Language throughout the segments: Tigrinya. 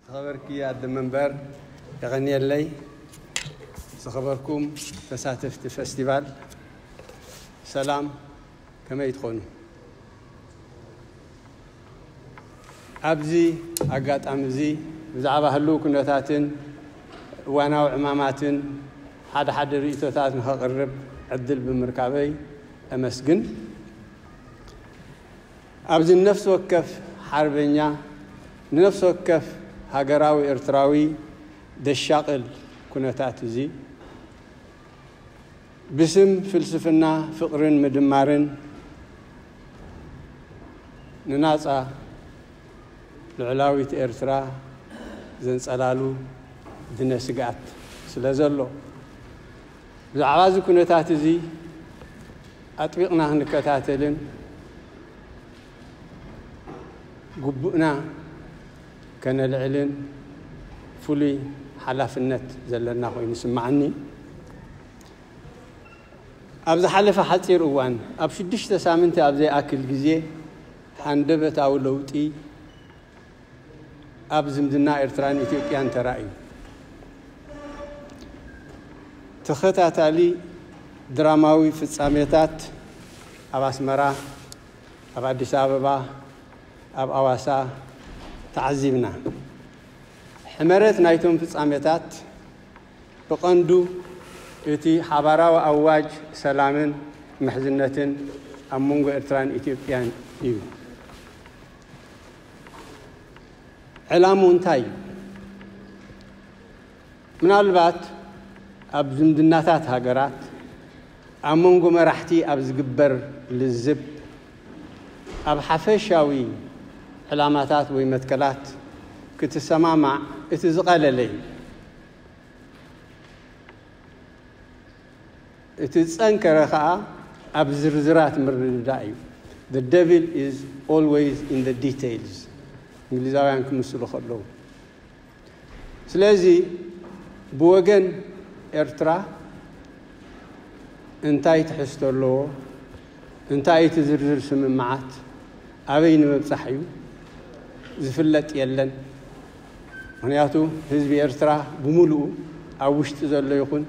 ዝኸበርኪ ኣደ መንበር የቐንየለይ። ዝኸበርኩም ተሳተፍቲ ፈስቲቫል ሰላም ከመይ ትኾኑ? ኣብዚ ኣጋጣሚ እዚ ብዛዕባ ህልው ኩነታትን እዋናዊ ዕማማትን ሓደ ሓደ ርእይቶታት ንኸቕርብ ዕድል ብምርካበይ እመስግን። ኣብዚ ንነፍሲ ወከፍ ሓርበኛ፣ ንነፍሲ ወከፍ ሃገራዊ ኤርትራዊ ዘሻቕል ኩነታት እዚ፣ ብስም ፍልስፍና ፍቕርን ምድማርን ንናጻ ልዑላዊት ኤርትራ ዘንጸላሉ ድነ ስግኣት ስለዘሎ፣ ብዛዕባ እዚ ኩነታት እዚ፣ ኣጥቢቕና ክንከታተልን ግቡእና ከነልዕልን ፍሉይ ሓላፍነት ዘለና ኮይኑ ይስመዓኒ። ኣብ ዝሓለፈ ሓጺር እዋን፣ ኣብ ሽዱሽተ ሳምንቲ ኣብ ዘይኣክል ግዜ፣ ሃንደበታዊ ለውጢ፣ ኣብ ዝምድና ኤርትራን ኢትዮጵያን ተራእዩ ተኸታታሊ ድራማዊ ፍጻሜታት ኣብ ኣስመራ፣ ኣብ ኣዲስ ኣበባ፣ ኣብ ኣዋሳ ተዓዚብና። ሕመረት ናይቶም ፍጻሜታት ብቐንዱ እቲ ሓባራዊ ኣዋጅ ሰላምን ምሕዝነትን ኣብ መንጎ ኤርትራን ኢትዮጵያን እዩ። ዕላምኡ እንታይ እዩ? ምናልባት ኣብ ዝምድናታት ሃገራት ኣብ መንጎ መራሕቲ ኣብ ዝግበር ልዝብ ኣብ ሓፈሻዊ ዕላማታት ወይ መትከላት ክትሰማማዕ እቲ ዝቐለለ እዩ። እቲ ዝጸንከረ ከኣ ኣብ ዝርዝራት ምርድዳእ እዩ፣ The devil is always in the details እንግሊዛውያን ክምስሉ ከለዉ። ስለዚ ብወገን ኤርትራ እንታይ ትሕዝቶ ኣለዎ፣ እንታይ እዩ እቲ ዝርዝር ስምምዓት፣ ኣበይ ንምብጻሕ እዩ፣ ዝፍለጥ የለን። ምኽንያቱ ህዝቢ ኤርትራ ብምሉኡ ኣብ ውሽጢ ዘሎ ይኹን፣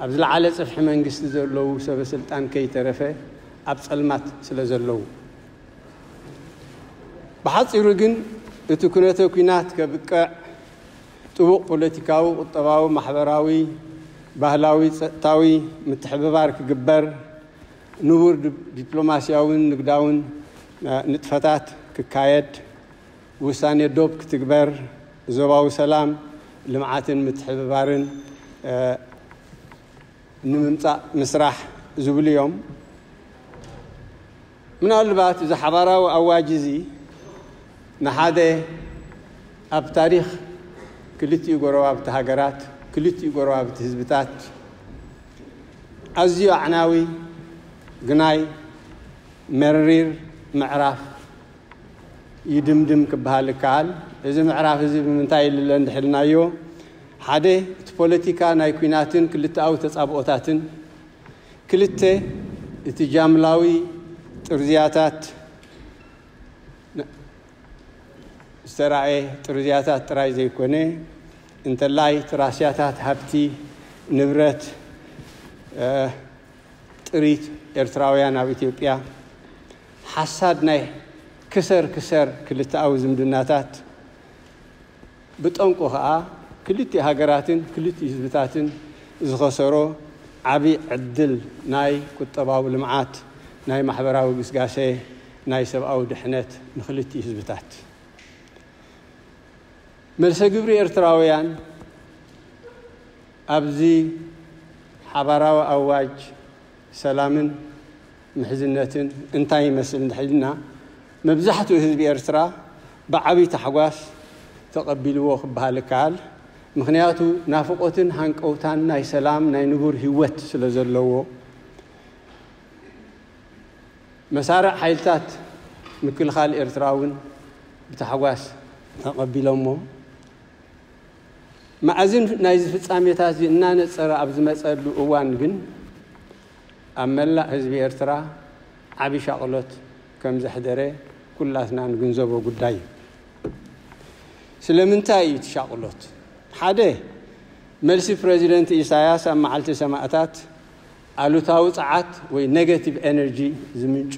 ኣብ ዝለዓለ ጽፍሒ መንግስቲ ዘለዉ ሰበስልጣን ከይተረፈ ኣብ ጸልማት ስለዘለዉ። ብሓጺሩ ግን እቲ ኩነተ ኩናት ከብቅዕ ጥቡቕ ፖለቲካዊ፣ ቁጠባዊ፣ ማሕበራዊ፣ ባህላዊ፣ ጸጥታዊ ምትሕብባር ክግበር፣ ንቡር ዲፕሎማስያውን ንግዳውን ንጥፈታት ክካየድ፣ ውሳኔ ዶብ ክትግበር ዞባዊ ሰላም፣ ልምዓትን ምትሕብባርን ንምምፃእ ምስራሕ ዝብሉ እዮም። ምናልባት እዚ ሓባራዊ ኣዋጅ እዚ ንሓደ ኣብ ታሪኽ ክልቲኡ ጎረባብቲ ሃገራት፣ ክልቲኡ ጎረባብቲ ህዝብታት ኣዝዩ ኣዕናዊ፣ ግናይ መሪር ምዕራፍ፣ ይድምድም ክበሃል እከኣል። እዚ ምዕራፍ እዚ ብምንታይ ኢለ እንድሕር ኢልናዮ፣ ሓደ እቲ ፖለቲካ ናይ ኲናትን ክልተኣዊ ተጻብኦታትን፣ ክልተ እቲ ጃምላዊ ጥርዝያታት ዝተራእየ ጥርዝያታት ጥራይ ዘይኮነ፣ እንተላይ እቲ ራስያታት ሃብቲ ንብረት ጥሪት ኤርትራውያን ኣብ ኢትዮጵያ፣ ሓሳብ ናይ ክሰር ክሰር ክልተኣዊ ዝምድናታት ብጠንቁ ከኣ ክልቲኡ ሃገራትን ክልቲኡ ህዝብታትን ዝኸሰሮ ዓቢ ዕድል ናይ ቁጠባዊ ልምዓት፣ ናይ ማሕበራዊ ግስጋሰ፣ ናይ ሰብኣዊ ድሕነት ንክልቲኡ ህዝብታት። መልሰ ግብሪ ኤርትራውያን ኣብዚ ሓባራዊ ኣዋጅ ሰላምን ምሕዝነትን እንታይ ይመስል እንድሕር ኢልና መብዛሕትኡ ህዝቢ ኤርትራ ብዓቢ ታሕጓስ ተቐቢልዎ ክበሃል ይከኣል። ምኽንያቱ ናፍቖትን ሃንቀውታን ናይ ሰላም ናይ ንቡር ሂወት ስለ ዘለዎ። መሳርዕ ሓይልታት ምክልኻል ኤርትራ እውን ብታሕጓስ ተቐቢሎሞ። መኣዝን ናይዚ ፍጻሜታትዚ እናነጸረ ኣብ ዝመጸሉ እዋን ግን፣ ኣብ መላእ ህዝቢ ኤርትራ ዓቢ ሻቕሎት ከም ዘሕደረ ኩላትና ንግንዘቦ ጉዳይ እዩ። ስለምንታይ እዩ እቲ ሻቕሎት? ሓደ፣ መልሲ ፕረዚደንት ኢሳያስ ኣብ መዓልቲ ሰማእታት ኣሉታዊ ጸዓት ወይ ነገቲቭ ኤነርጂ ዝምንጩ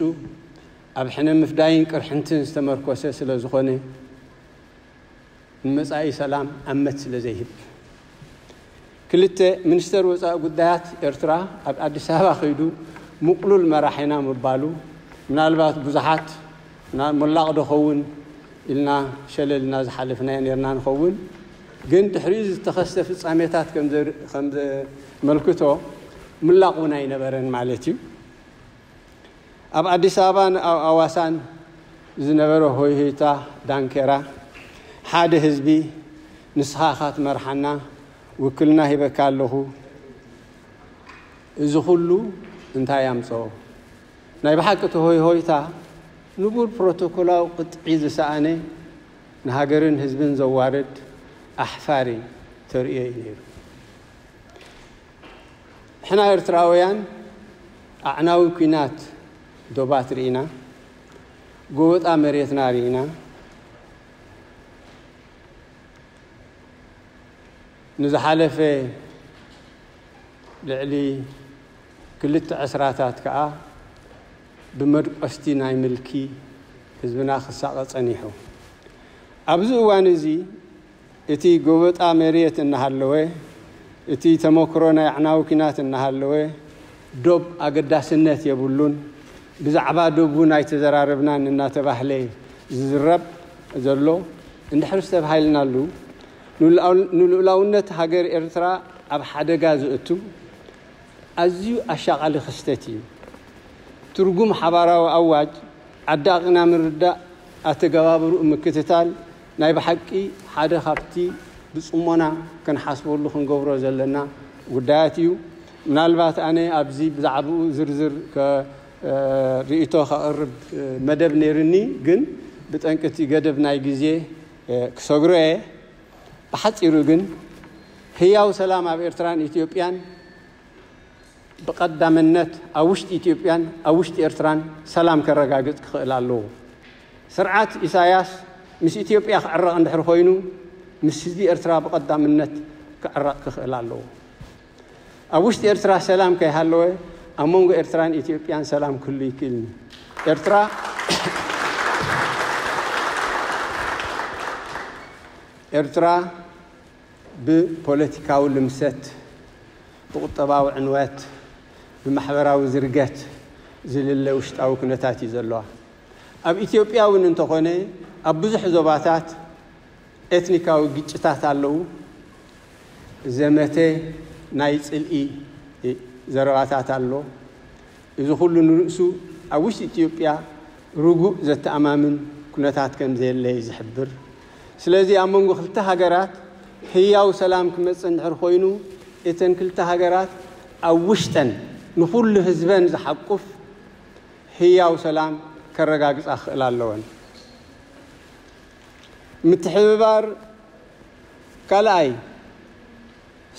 ኣብ ሕነ ምፍዳይን ቅርሕንትን ዝተመርኮሰ ስለዝኾነ፣ ንመጻኢ ሰላም ኣመት ስለ ዘይህብ። ክልተ፣ ሚኒስተር ወጻኢ ጉዳያት ኤርትራ ኣብ ኣዲስ ኣበባ ከይዱ ምቕሉል መራሒና ምባሉ ምናልባት ብዙሓት ናብ ሞላቕ ዶ ኸውን ኢልና ሸለል እና ዝሓለፍናዮ ኔርና ንኸውን ግን ድሕሪኡ ዝተኸስተ ፍጻሜታት ከም ዘመልክቶ ምላቕ እውን ኣይነበረን ማለት እዩ። ኣብ ኣዲስ ኣበባን ኣብ ኣዋሳን ዝነበረ ሆይሆይታ ዳንኬራ ሓደ ህዝቢ ንስኻ እኻ ትመርሓና ውክልና ሂበካ ኣለኹ እዚ ኩሉ እንታይ ኣምፀኦ? ናይ ብሓቂ እቲ ሆይሆይታ ንቡር ፕሮቶኮላዊ ቅጥዒ ዝሰኣነ ንሃገርን ህዝብን ዘዋርድ ኣሕፋሪ ተርእዮ እዩ ነይሩ። ንሕና ኤርትራውያን ኣዕናዊ ኩናት ዶባት ርኢና፣ ጎበጣ መሬትና ርኢና፣ ንዝሓለፈ ልዕሊ ክልተ ዕስራታት ከኣ ብመድቆስቲ ናይ ምልኪ ህዝብና ክሳቐ ጸኒሑ። ኣብዚ እዋን'ዚ እቲ ጎበጣ መርየት እናሃለወ፣ እቲ ተሞክሮ ናይ ኣዕናዊ ኩናት እናሃለወ፣ ዶብ ኣገዳስነት የብሉን፣ ብዛዕባ ዶብ እውን ኣይተዘራረብናን እናተባህለ ዝዝረብ ዘሎ እንድሕር ዝተብሃልናሉ፣ ንልኡላውነት ሃገር ኤርትራ ኣብ ሓደጋ ዘእቱ ኣዝዩ ኣሻቓሊ ክስተት እዩ። ትርጉም ሓባራዊ ኣዋጅ ዓዳቒና ምርዳእ፣ ኣተገባብርኡ ምክትታል፣ ናይ ብሓቂ ሓደ ካብቲ ብጽሞና ክንሓስበሉ ክንገብሮ ዘለና ጉዳያት እዩ። ምናልባት ኣነ ኣብዚ ብዛዕብኡ ዝርዝር ርእይቶ ከቕርብ መደብ ነይርኒ ግን ብጠንቂ እቲ ገደብ ናይ ግዜ ክሰግሮ እየ። ብሓጺሩ ግን ህያው ሰላም ኣብ ኤርትራን ኢትዮጵያን ብቐዳምነት ኣብ ውሽጢ ኢትዮጵያን ኣብ ውሽጢ ኤርትራን ሰላም ከረጋግጽ ክኽእል ኣለዎ። ስርዓት ኢሳያስ ምስ ኢትዮጵያ ክዕረቕ እንድሕር ኮይኑ ምስ ህዝቢ ኤርትራ ብቐዳምነት ክዕረቕ ክኽእል ኣለዎ። ኣብ ውሽጢ ኤርትራ ሰላም ከይሃለወ ኣብ መንጎ ኤርትራን ኢትዮጵያን ሰላም ክህሉ ኣይክእልን'ዩ። ኤርትራ ኤርትራ ብፖለቲካዊ ልምሰት፣ ብቁጠባዊ ዕንወት፣ ብማሕበራዊ ዝርገት ዝልለ ውሽጣዊ ኩነታት'ዩ ዘለዋ። ኣብ ኢትዮጵያ እውን እንተኾነ ኣብ ብዙሕ ዞባታት ኤትኒካዊ ግጭታት ኣለዉ። ዘመተ ናይ ጽልኢ ዘረባታት ኣሎ። እዚ ኩሉ ንርእሱ ኣብ ውሽጢ ኢትዮጵያ ርጉእ ዘተኣማምን ኩነታት ከምዘየለ እዩ ዝሕብር። ስለዚ ኣብ መንጎ ክልተ ሃገራት ህያው ሰላም ክመጽእ እንድሕር ኮይኑ እተን ክልተ ሃገራት ኣብ ውሽጠን ንኹሉ ህዝበን ዝሓቁፍ ህያው ሰላም ከረጋግጻ ክኽእላ ኣለወን። ምትሕብባር ካልኣይ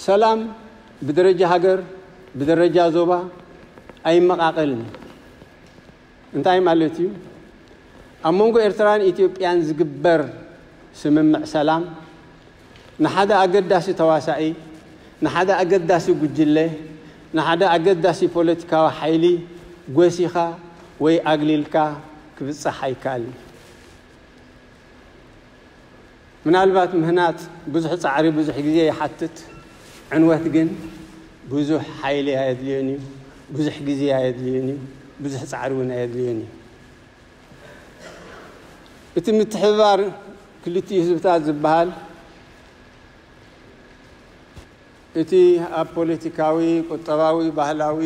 ሰላም ብደረጃ ሃገር ብደረጃ ዞባ ኣይመቓቐልን እዩ። እንታይ ማለት እዩ? ኣብ መንጎ ኤርትራን ኢትዮጵያን ዝግበር ስምምዕ ሰላም ንሓደ ኣገዳሲ ተዋሳኢ፣ ንሓደ ኣገዳሲ ጉጅለ፣ ንሓደ ኣገዳሲ ፖለቲካዊ ሓይሊ ጎሲኻ ወይ ኣግሊልካ ክብጻሕ ኣይከኣልን እዩ። ምናልባት ምህናጽ ብዙሕ ጻዕሪ ብዙሕ ግዜ ይሓትት፣ ዕንወት ግን ብዙሕ ሓይሊ ኣየድልዮን እዩ፣ ብዙሕ ግዜ ኣየድልዮን እዩ፣ ብዙሕ ጻዕሪ እውን ኣየድልዮን እዩ። እቲ ምትሕብባር ክልቲኡ ህዝብታት ዝበሃል እቲ ኣብ ፖለቲካዊ፣ ቁጠባዊ፣ ባህላዊ፣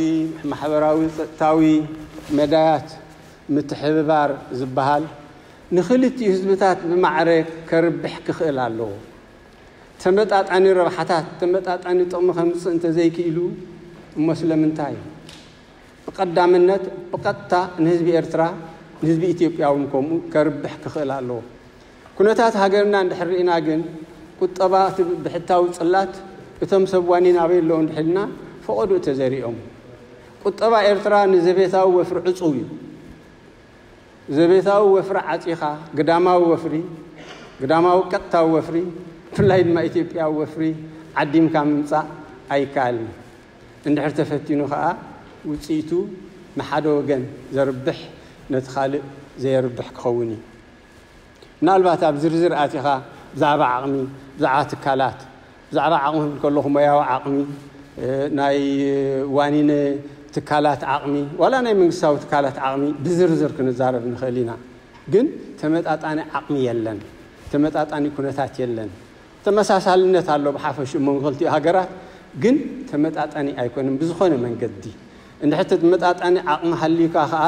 ማሕበራዊ፣ ጸጥታዊ መዳያት ምትሕብባር ዝበሃል ንክልቲኡ ህዝብታት ብማዕረ ከርብሕ ክኽእል ኣለዎ። ተመጣጣኒ ረብሓታት፣ ተመጣጣኒ ጥቕሚ ከምጽእ እንተዘይክኢሉ እሞ ስለምንታይ? ብቀዳምነት ብቀጥታ ንህዝቢ ኤርትራ ንህዝቢ ኢትዮጵያውን ከምኡ ከርብሕ ክኽእል ኣለዎ። ኩነታት ሃገርና እንድሕር ርኢና ግን ቁጠባ እቲ ብሕታዊ ጽላት እቶም ሰብ ዋኒን ኣበይ ኣለዉ እንድሕር ኢልና ፈቐድኡ እተዘሪኦም። ቁጠባ ኤርትራ ንዘቤታዊ ወፍሪ ዕጹው እዩ። ዘቤታዊ ወፍሪ ዓጺኻ ግዳማዊ ወፍሪ፣ ግዳማዊ ቀጥታዊ ወፍሪ ብፍላይ ድማ ኢትዮጵያዊ ወፍሪ ዓዲምካ ምምጻእ ኣይከኣልን። እንድሕር ተፈቲኑ ከኣ ውጽኢቱ ንሓደ ወገን ዘርብሕ ነቲ ካልእ ዘየርብሕ ክኸውን እዩ። ምናልባት ኣብ ዝርዝር ኣቲኻ ብዛዕባ ዓቕሚ፣ ብዛዕባ ትካላት፣ ብዛዕባ ዓቕሚ ክብል ከለኹ ሞያዊ ዓቕሚ፣ ናይ ዋኒነ ትካላት ዓቕሚ ዋላ ናይ መንግስታዊ ትካላት ዓቕሚ ብዝርዝር ክንዛረብ ንኽእል ኢና። ግን ተመጣጣኒ ዓቕሚ የለን፣ ተመጣጣኒ ኩነታት የለን። ተመሳሳልነት ኣሎ ብሓፈሽኡ መንጎ ክልቲኡ ሃገራት ግን ተመጣጣኒ ኣይኮነን ብዝኾነ መንገዲ እንድሕር ተመጣጣኒ ዓቕሚ ሃልዩካ ከኣ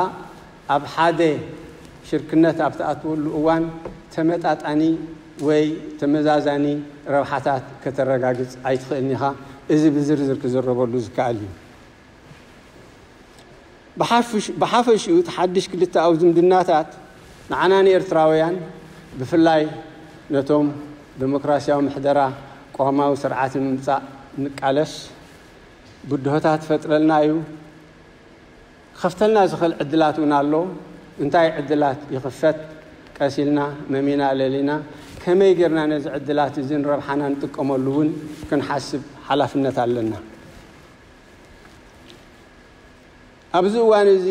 ኣብ ሓደ ሽርክነት ኣብ ትኣትወሉ እዋን ተመጣጣኒ ወይ ተመዛዛኒ ረብሓታት ከተረጋግጽ ኣይትኽእልን ኢኻ እዚ ብዝርዝር ክዝረበሉ ዝከኣል እዩ። ብሓፈሽኡ እቲ ሓድሽ ክልተኣዊ ዝምድናታት ንዓና ንኤርትራውያን ብፍላይ ነቶም ደሞክራስያዊ ምሕደራ ቅዋማዊ ስርዓት ንምምጻእ እንቃለስ ብድሆታት ይፈጥረልና እዩ፣ ክኸፍተልና ዝኽእል ዕድላት እውን ኣሎ፣ እንታይ ዕድላት ይኽፈት ቀስ ኢልና መሚና ለሊና ከመይ ጌርና ነዚ ዕድላት እዚ ንረብሓና ንጥቀመሉ እውን ክንሓስብ ሓላፍነት ኣለና። ኣብዚ እዋን እዚ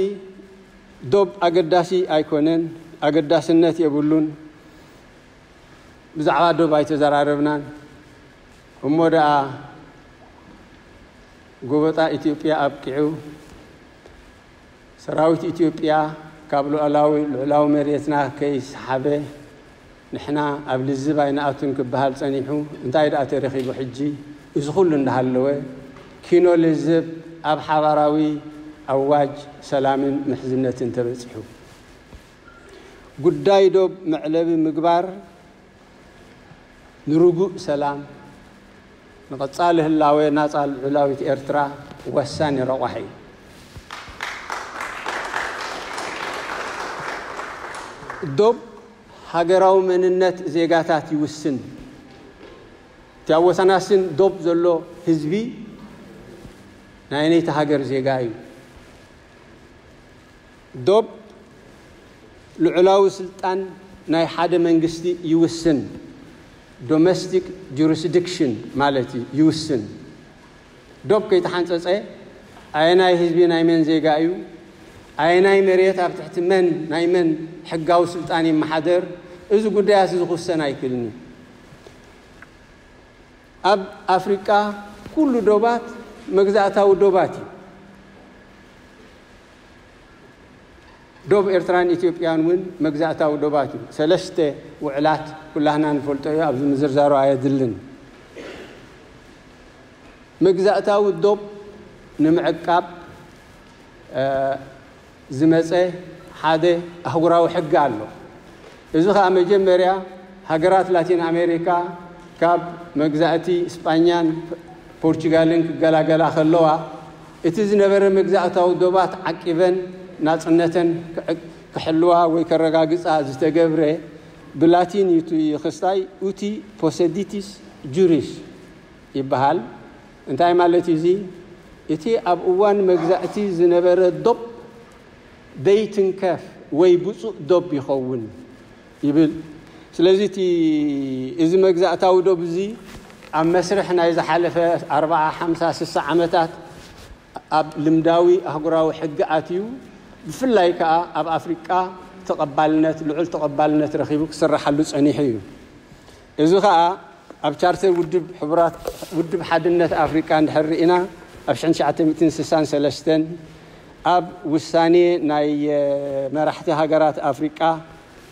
ዶብ ኣገዳሲ ኣይኮነን፣ ኣገዳስነት የብሉን፣ ብዛዕባ ዶብ ኣይተዘራረብናን፣ እሞ ደኣ ጎበጣ ኢትዮጵያ ኣብቂዑ፣ ሰራዊት ኢትዮጵያ ካብ ሉኣላዊ ልዑላዊ መሬትና ከይሰሓበ ንሕና ኣብ ልዝብ ኣይንኣቱን ክበሃል ጸኒሑ እንታይ ድኣ ተረኺቡ ሕጂ? እዚ ኩሉ እንዳሃለወ ኪኖ ልዝብ ኣብ ሓባራዊ ኣዋጅ ሰላምን ምሕዝነትን ተበጺሑ ጉዳይ ዶብ መዕለቢ ምግባር ንርጉእ ሰላም ንቐጻሊ ህላወ ናጻ ልዑላዊት ኤርትራ ወሳኒ ረቋሒ እዩ። ዶብ ሃገራዊ መንነት ዜጋታት ይውስን። እቲ ኣብ ወሰናስን ዶብ ዘሎ ህዝቢ ናይ ነይቲ ሃገር ዜጋ እዩ። ዶብ ልዑላዊ ስልጣን ናይ ሓደ መንግስቲ ይውስን፣ ዶመስቲክ ጁሪስዲክሽን ማለት እዩ፣ ይውስን። ዶብ ከይተሓንጸጸ ኣየናይ ህዝቢ ናይ መን ዜጋ እዩ፣ ኣየናይ መሬት ኣብ ትሕቲ መን ናይ መን ሕጋዊ ስልጣን ይመሓደር፣ እዚ ጉዳያት እዚ ክውሰን ኣይክልን እዩ። ኣብ ኣፍሪቃ ኩሉ ዶባት መግዛእታዊ ዶባት እዩ። ዶብ ኤርትራን ኢትዮጵያን እውን መግዛእታዊ ዶባት እዩ። ሰለስተ ውዕላት ኩላህና ንፈልጦ እዩ፣ ኣብዚ ምዝርዛሩ ኣየድልን። መግዛእታዊ ዶብ ንምዕቃብ ዝመጸ ሓደ ኣህጉራዊ ሕጊ ኣሎ። እዚ ኸኣ መጀመርያ ሃገራት ላቲን ኣሜሪካ ካብ መግዛእቲ ስጳኛን ፖርቹጋልን ክገላገላ ከለዋ እቲ ዝነበረ መግዛእታዊ ዶባት ዓቂበን ናጽነተን ክሕልዋ ወይ ከረጋግጻ ዝተገብረ ብላቲን እዩ እቲ ኽስታይ ኡቲ ፖሰዲቲስ ጁሪስ ይበሃል እንታይ ማለት እዩ እዚ እቲ ኣብ እዋን መግዛእቲ ዝነበረ ዶብ ደይትንከፍ ወይ ብፁእ ዶብ ይኸውን ይብል ስለዚ እቲ እዚ መግዛእታዊ ዶብ እዚ ኣብ መስርሕ ናይ ዝሓለፈ ኣርብዓ ሓምሳ ስሳ ዓመታት ኣብ ልምዳዊ ኣህጉራዊ ሕጊ ኣትዩ ብፍላይ ከኣ ኣብ ኣፍሪቃ ተቐባልነት ልዑል ተቐባልነት ረኺቡ ክስራሓሉ ጸኒሑ እዩ። እዚ ከኣ ኣብ ቻርተር ውድብ ሕቡራት ውድብ ሓድነት ኣፍሪቃ እንድሕር ርኢና ኣብ ሽሕን ትሽዓተ ሚእትን ስሳን ሰለስተን ኣብ ውሳኔ ናይ መራሕቲ ሃገራት ኣፍሪቃ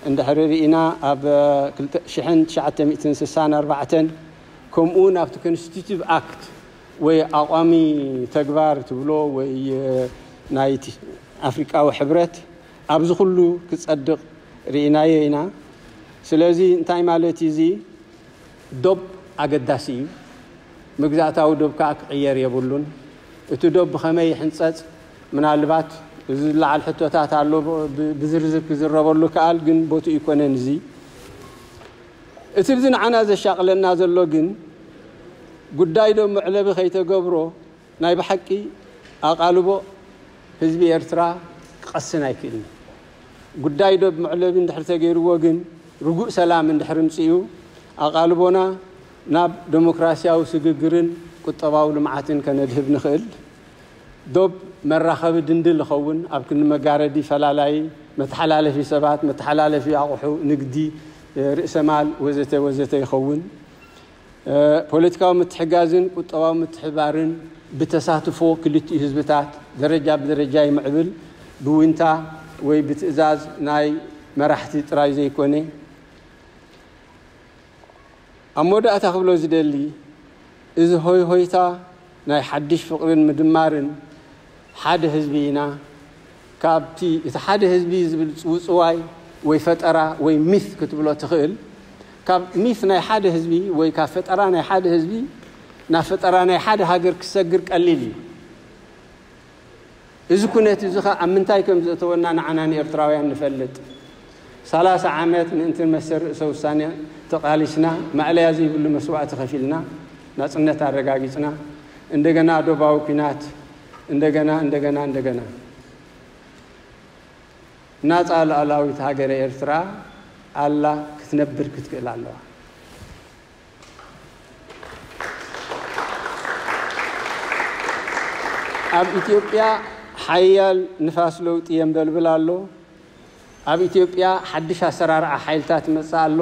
እንድሕር ርኢና ኣብ ሽሕን ትሽዓተ ሚእትን ስሳን ኣርባዕተን ከምኡውን ኣብቲ ኮንስቲቲቭ ኣክት ወይ ኣቋሚ ተግባር ትብሎ ወይ ናይ ኣፍሪቃዊ ሕብረት ኣብዚ ኩሉ ክጸድቕ ርኢናዮ ኢና። ስለዚ እንታይ ማለት እዩ እዚ ዶብ ኣገዳሲ እዩ። መግዛእታዊ ዶብ ከኣ ክቕየር የብሉን። እቲ ዶብ ብኸመይ ይሕንጸጽ ምናልባት እዚ ዝለዓል ሕቶታት ኣሎ ብዝርዝር ክዝረበሉ ይከኣል ግን ቦትኡ ኣይኮነን እዚ። እቲ ብዚ ንዓና ዘሻቕለና ዘሎ ግን ጉዳይ ዶ መዕለቢ ከይተገብሮ ናይ ብሓቂ ኣቓልቦ ህዝቢ ኤርትራ ክቐስን ኣይክእልን እዩ። ጉዳይ ዶብ መዕለቢ እንድሕሪ ተገይርዎ ግን ርጉእ ሰላም እንድሕሪ ምጽኡ ኣቓልቦና ናብ ደሞክራሲያዊ ስግግርን ቁጠባዊ ልምዓትን ከነድህብ ንኽእል። ዶብ መራኸቢ ድንድል ይኸውን ኣብ ክንዲ መጋረዲ ፈላላዪ መተሓላለፊ ሰባት መተሓላለፊ ኣቑሑ ንግዲ ርእሰ ማል ወዘተ ወዘተ ይኸውን። ፖለቲካዊ ምትሕጋዝን ቁጠባዊ ምትሕብባርን ብተሳትፎ ክልቲኡ ህዝብታት ደረጃ ብደረጃ ይምዕብል፣ ብዊንታ ወይ ብትእዛዝ ናይ መራሕቲ ጥራይ ዘይኮነ። ኣብ መወዳእታ ክብሎ ዝደሊ እዚ ሆይሆይታ ናይ ሓድሽ ፍቕርን ምድማርን ሓደ ህዝቢ ኢና፣ ካብቲ እቲ ሓደ ህዝቢ ዝብል ጽውጽዋይ ወይ ፈጠራ ወይ ሚት ክትብሎ ትኽእል፣ ካብ ሚት ናይ ሓደ ህዝቢ ወይ ካብ ፈጠራ ናይ ሓደ ህዝቢ ናብ ፈጠራ ናይ ሓደ ሃገር ክሰግር ቀሊል እዩ። እዚ ኩነት እዚ ከ ኣብ ምንታይ ከም ዘእተወና ንዓና ንኤርትራውያን ንፈልጥ። ሰላሳ ዓመት ምእንቲ መሰል ርእሰ ውሳነ ተቓሊስና፣ ማእለያ ዘይብሉ መስዋእቲ ከፊልና፣ ናጽነት ኣረጋጊጽና፣ እንደገና ዶባዊ ኩናት፣ እንደገና እንደገና እንደገና ናጻ ሉኣላዊት ሃገረ ኤርትራ ኣላ ክትነብር ክትክእል ኣለዋ። ኣብ ኢትዮጵያ ሓያል ንፋስ ለውጢ የንበልብል ኣሎ። ኣብ ኢትዮጵያ ሓድሽ ኣሰራርዓ ሓይልታት ይመጽእ ኣሎ።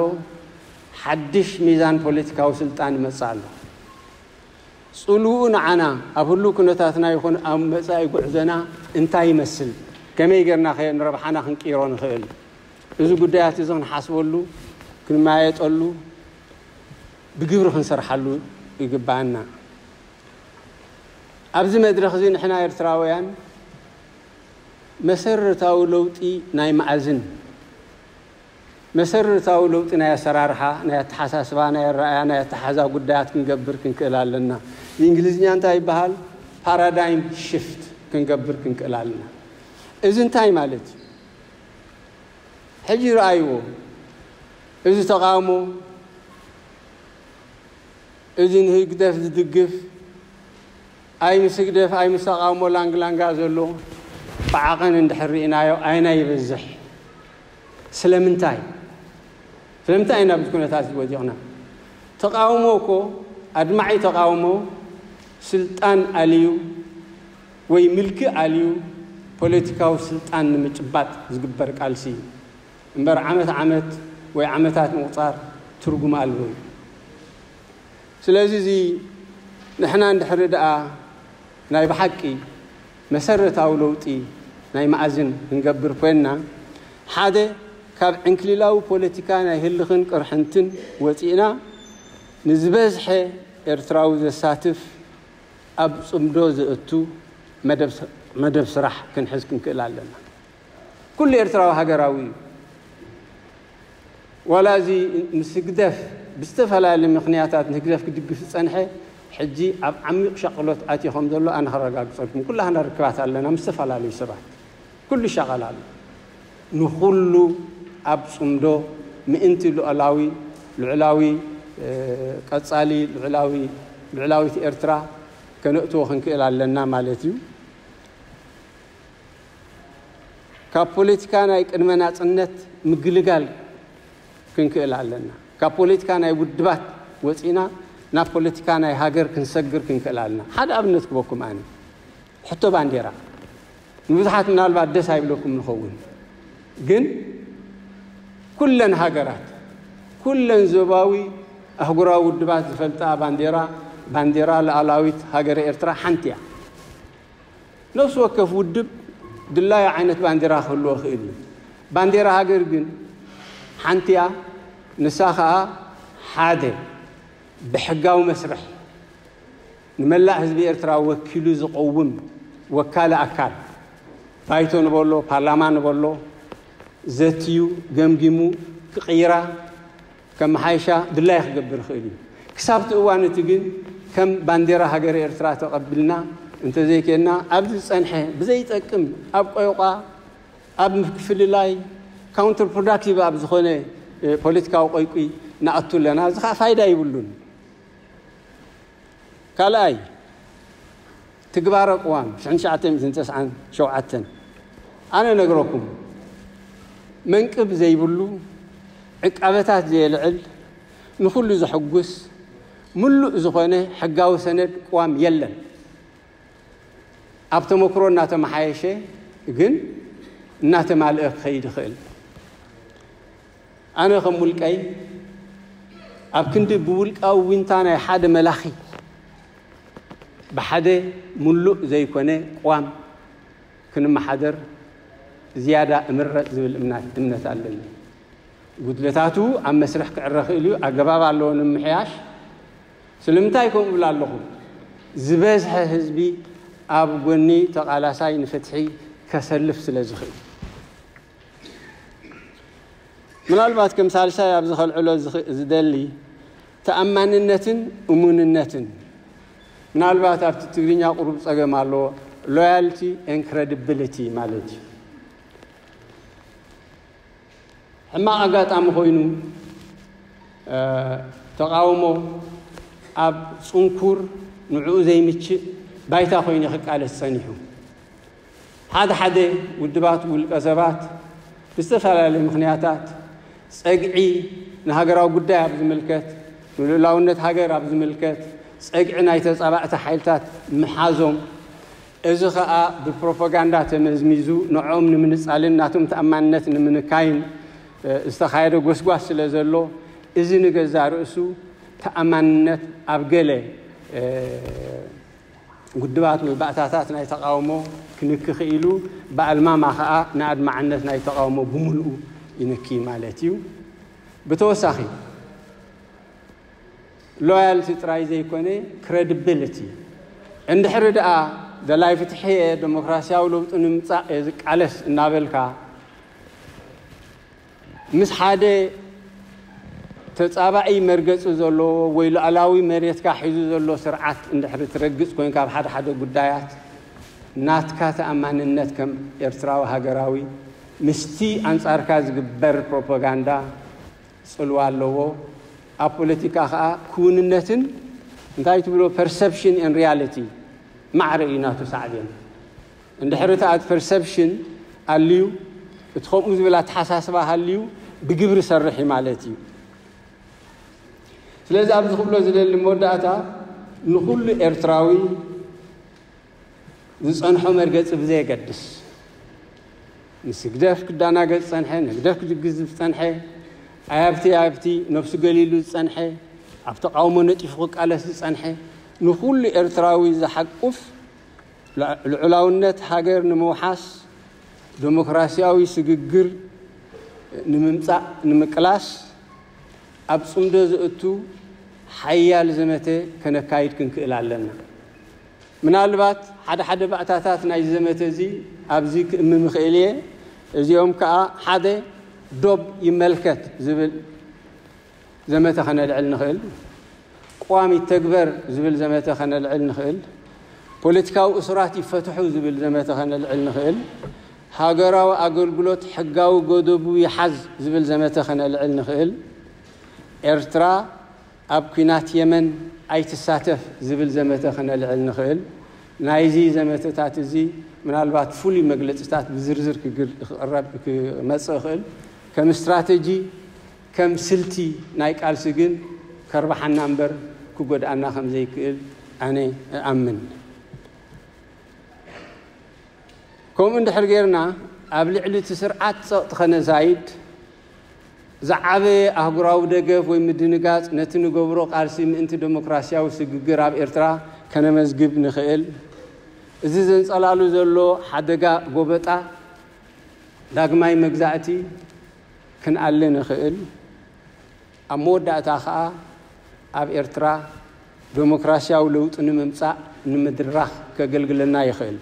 ሓድሽ ሚዛን ፖለቲካዊ ስልጣን ይመጽእ ኣሎ። ጽልውኡ ንዓና ኣብ ህሉው ኩነታትና ይኹን ኣብ መጻኢ ጉዕዞና እንታይ ይመስል፣ ከመይ ጌርናኸ ንረብሓና ክንቅይሮ ንኽእል፣ እዚ ጉዳያት እዚ ክንሓስበሉ፣ ክንመያየጠሉ፣ ብግብሪ ክንሰርሓሉ ይግበኣና። ኣብዚ መድረኽ እዚ ንሕና ኤርትራውያን መሰረታዊ ለውጢ ናይ መኣዝን መሰረታዊ ለውጢ ናይ ኣሰራርሓ፣ ናይ ኣተሓሳስባ፣ ናይ ኣረኣእያ፣ ናይ ኣተሓሕዛ ጉዳያት ክንገብር ክንክእል ኣለና። ብእንግሊዝኛ እንታይ ይበሃል? ፓራዳይም ሽፍት ክንገብር ክንክእል ኣለና። እዚ እንታይ ማለት እዩ? ሕጂ ረኣይዎ፣ እዚ ተቓውሞ፣ እዚ ንህግደፍ ዝድግፍ፣ ኣይ ምስ ህግደፍ ኣይ ምስ ተቓውሞ ላንግላንጋ ዘሎ፣ ብዓቐን እንድሕር ርኢናዮ ኣየናይ ይበዝሕ? ስለምንታይ ስለምንታይ ኢና ኣብዚ ኩነታት እዚ ወዲቕና? ተቓውሞ እኮ ኣድማዒ ተቓውሞ ስልጣን ኣልዩ ወይ ምልኪ ኣልዩ ፖለቲካዊ ስልጣን ንምጭባጥ ዝግበር ቃልሲ እዩ እምበር ዓመት ዓመት ወይ ዓመታት ምቑጻር ትርጉም ኣልቦ እዩ። ስለዚ እዚ ንሕና እንድሕሪ ደኣ ናይ ብሓቂ መሰረታዊ ለውጢ ናይ መኣዝን ክንገብር ኮይንና፣ ሓደ ካብ ዕንክሊላዊ ፖለቲካ ናይ ህልኽን ቅርሕንትን ወጺእና ንዝበዝሐ ኤርትራዊ ዘሳትፍ ኣብ ጽምዶ ዘእቱ መደብ ስራሕ ክንሕዝ ክንክእል ኣለና። ኩሉ ኤርትራዊ ሃገራዊ እዩ። ዋላ እዚ ምስ ህግደፍ ብዝተፈላለዩ ምኽንያታት ንህግደፍ ክድግፍ ዝጸንሐ ሕጂ ኣብ ዓሚቕ ሻቕሎት ኣትዩ ከም ዘሎ ኣነ ከረጋግጸልኩም። ኩላህና ርክባት ኣለና ምስ ዝተፈላለዩ ሰባት። ኩሉ ይሻቐል ኣሎ። ንኹሉ ኣብ ጽምዶ ምእንቲ ሉኣላዊ ልዑላዊ ቀጻሊ ልዑላዊ ልዑላዊት ኤርትራ ከነእትዎ ክንክእል ኣለና ማለት እዩ። ካብ ፖለቲካ ናይ ቅድመ ናጽነት ምግልጋል ክንክእል ኣለና። ካብ ፖለቲካ ናይ ውድባት ወጺእና ናብ ፖለቲካ ናይ ሃገር ክንሰግር ክንክእል ኣለና። ሓደ ኣብነት ክበኩም ኣነ ሕቶ ባንዴራ ንብዙሓት ምናልባት ደስ ኣይብለኩም ንኸውን ግን ኩለን ሃገራት ኩለን ዞባዊ ኣህጉራዊ ውድባት ዝፈልጣ ባንዴራ ባንዴራ ሉዓላዊት ሃገረ ኤርትራ ሓንቲ እያ። ነፍሲ ወከፍ ውድብ ድላዩ ዓይነት ባንዴራ ክህልዎ ይኽእል እዩ። ባንዴራ ሃገር ግን ሓንቲ እያ፣ ንሳ ከኣ ሓደ ብሕጋዊ መስርሕ ንመላእ ህዝቢ ኤርትራ ወኪሉ ዝቐውም ወካሊ ኣካል፣ ባይቶ ንበሎ ፓርላማ ንበሎ፣ ዘትዩ ገምጊሙ ክቕይራ ከመሓይሻ ድላዩ ክገብር ይኽእል እዩ። ክሳብ'ቲ እዋን እቲ ግን ከም ባንዴራ ሃገረ ኤርትራ ተቐብልና እንተዘይኴንና ኣብዚ ዝጸንሐ ብዘይጠቅም ኣብ ቆይቋ ኣብ ምፍልላይ ካውንተር ፕሮዳክቲቭ ኣብ ዝኾነ ፖለቲካዊ ቆይቊ ንኣቱ ኣለና። እዚ ከኣ ፋይዳ ይብሉን። ካልኣይ ትግባረ ቅዋም ሽሕን ትሽዓተ ሚእትን ተስዓን ሸውዓተን ኣነ ነግረኩም መንቅብ ዘይብሉ ዕቃበታት ዘየልዕል ንኹሉ ዘሕጉስ ምሉእ ዝኾነ ሕጋዊ ሰነድ ቅዋም የለን። ኣብ ተመክሮ እናተመሓየሸ ግን እናተማልአ ክኸይድ ይኽእል። ኣነ ከም ውልቀይ ኣብ ክንዲ ብውልቃዊ ዊንታ ናይ ሓደ መላኺ ብሓደ ምሉእ ዘይኮነ ቅዋም ክንመሓደር ዝያዳ እምረጽ ዝብል እምነት ኣለኒ። ጉድለታቱ ኣብ መስርሕ ክዕረ ክእል እዩ፣ ኣገባብ ኣለዎ ንምምሕያሽ። ስለምንታይ ከምኡ እብል ኣለኹ? ዝበዝሐ ህዝቢ ኣብ ጎኒ ተቓላሳይ ንፍትሒ ከሰልፍ ስለ ዝኽእል። ምናልባት ከም ሳልሳይ ኣብዚ ከልዕሎ ዝደሊ ተኣማንነትን እሙንነትን ምናልባት ኣብቲ ትግርኛ ቁሩብ ጸገም ኣለዎ ሎያልቲ ኤን ክሬዲቢሊቲ ማለት እዩ ሕማቕ ኣጋጣሚ ኮይኑ ተቃውሞ ኣብ ጽንኩር ንዕኡ ዘይምችእ ባይታ ኮይኑ ክቃለስ ጸኒሑ ሓደ ሓደ ውድባት ውልቀ ሰባት ብዝተፈላለየ ምኽንያታት ፀግዒ ንሃገራዊ ጉዳይ ኣብ ዝምልከት ንልኡላውነት ሃገር ኣብ ዝምልከት ፀግዒ ናይ ተፃባእቲ ሓይልታት ምሓዞም እዚ ኸኣ ብፕሮፓጋንዳ ተመዝሚዙ ንዕኦም ንምንፃልን ናቶም ተኣማንነት ንምንካይን ዝተኻየደ ጎስጓስ ስለ ዘሎ እዚ ንገዛ ርእሱ ተኣማንነት ኣብ ገለ ውድባት ወይ ባእታታት ናይ ተቓውሞ ክንኪ ክኢሉ፣ ብኣልማማ ከኣ ንኣድማዕነት ናይ ተቓውሞ ብምልኡ ይንኪ ማለት እዩ። ብተወሳኺ፣ ሎያልቲ ጥራይ ዘይኮነ ክረድብልቲ፣ እንድሕሪ ደኣ ደላይ ፍትሒ እየ፣ ደሞክራስያዊ ለውጢ ንምምጻእ እየ ዝቃለስ እናበልካ፣ ምስ ሓደ ተጻባኢ መርገጺ ዘለዎ ወይ ሉኣላዊ መሬትካ ሒዙ ዘሎ ስርዓት እንድሕሪ ትረግጽ ኮንካ ኣብ ሓደ ሓደ ጉዳያት ናትካ ተኣማንነት ከም ኤርትራዊ ሃገራዊ ምስቲ ኣንጻርካ ዝግበር ፕሮፖጋንዳ ጽልዋ ኣለዎ። ኣብ ፖለቲካ ከኣ ክውንነትን እንታይ ትብሎ ፐርሰፕሽን ኤን ሪያሊቲ ማዕረ እዩ ናቱ ሳዕቤን። እንድሕር እቲ ኣት ፐርሰፕሽን ኣልዩ እቲ ከምኡ ዝብል ኣተሓሳስባ ሃልዩ ብግብሪ ሰርሒ ማለት እዩ። ስለዚ ኣብዚ ክብሎ ዝደሊ መወዳእታ ንኹሉ ኤርትራዊ ዝጸንሖ መርገጺ ብዘየገድስ ምስ ህግደፍ ክዳናገጽ ዝጸንሐ ንህግደፍ ክድግዝ ዝጸንሐ ኣያብቲ ኣያብቲ ነብሱ ገሊሉ ዝጸንሐ ኣብ ተቃውሞ ነጢፉ ክቃለስ ዝጸንሐ ንኹሉ ኤርትራዊ ዝሓቁፍ ልዑላውነት ሃገር ንምውሓስ፣ ደሞክራሲያዊ ስግግር ንምምጻእ ንምቅላስ ኣብ ጽምዶ ዘእቱ ሓያል ዘመተ ከነካይድ ክንክእል ኣለና። ምናልባት ሓደ ሓደ ባእታታት ናይዚ ዘመተ እዚ ኣብዚ ክእምም እኽእል እየ። እዚኦም ከኣ ሓደ ዶብ ይመልከት ዝብል ዘመተ ከነልዕል ንኽእል፣ ቅዋም ይተግበር ዝብል ዘመተ ከነልዕል ንኽእል፣ ፖለቲካዊ እሱራት ይፈትሑ ዝብል ዘመተ ከነልዕል ንኽእል፣ ሃገራዊ ኣገልግሎት ሕጋዊ ገደቡ ይሓዝ ዝብል ዘመተ ከነልዕል ንኽእል፣ ኤርትራ ኣብ ኲናት የመን ኣይትሳተፍ ዝብል ዘመተ ከነልዕል ንኽእል። ናይዚ ዘመተታት እዚ ምናልባት ፍሉይ መግለጺታት ብዝርዝር ክግር ክቕረብ ክመጽእ ይኽእል። ከም ስትራተጂ ከም ስልቲ ናይ ቃልሲ ግን ከርብሓና እምበር ክጎድኣና ከም ዘይክእል ኣነ እኣምን። ከምኡ እንድሕር ጌርና ኣብ ልዕሊ እቲ ስርዓት ጸቕጢ ከነዛይድ ዝዓበየ ኣህጉራዊ ደገፍ ወይ ምድንጋጽ ነቲ ንገብሮ ቃልሲ ምእንቲ ደሞክራስያዊ ስግግር ኣብ ኤርትራ ከነመዝግብ ንኽእል። እዚ ዘንጸላሉ ዘሎ ሓደጋ ጎበጣ፣ ዳግማይ መግዛእቲ፣ ክንኣሊ ንኽእል፣ ኣብ መወዳእታ ከኣ ኣብ ኤርትራ ደሞክራስያዊ ለውጢ ንምምጻእ ንምድራኽ ከገልግለና ይኽእል።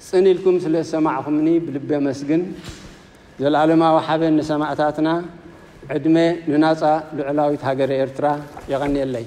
ጽን ኢልኩም ስለ ዝሰማዕኩምኒ ብልቢ ኣመስግን። ዘልኣለማዊ ሓበን ንሰማእታትና፣ ዕድመ ንናጻ ልዑላዊት ሃገረ ኤርትራ። የቐንየለይ።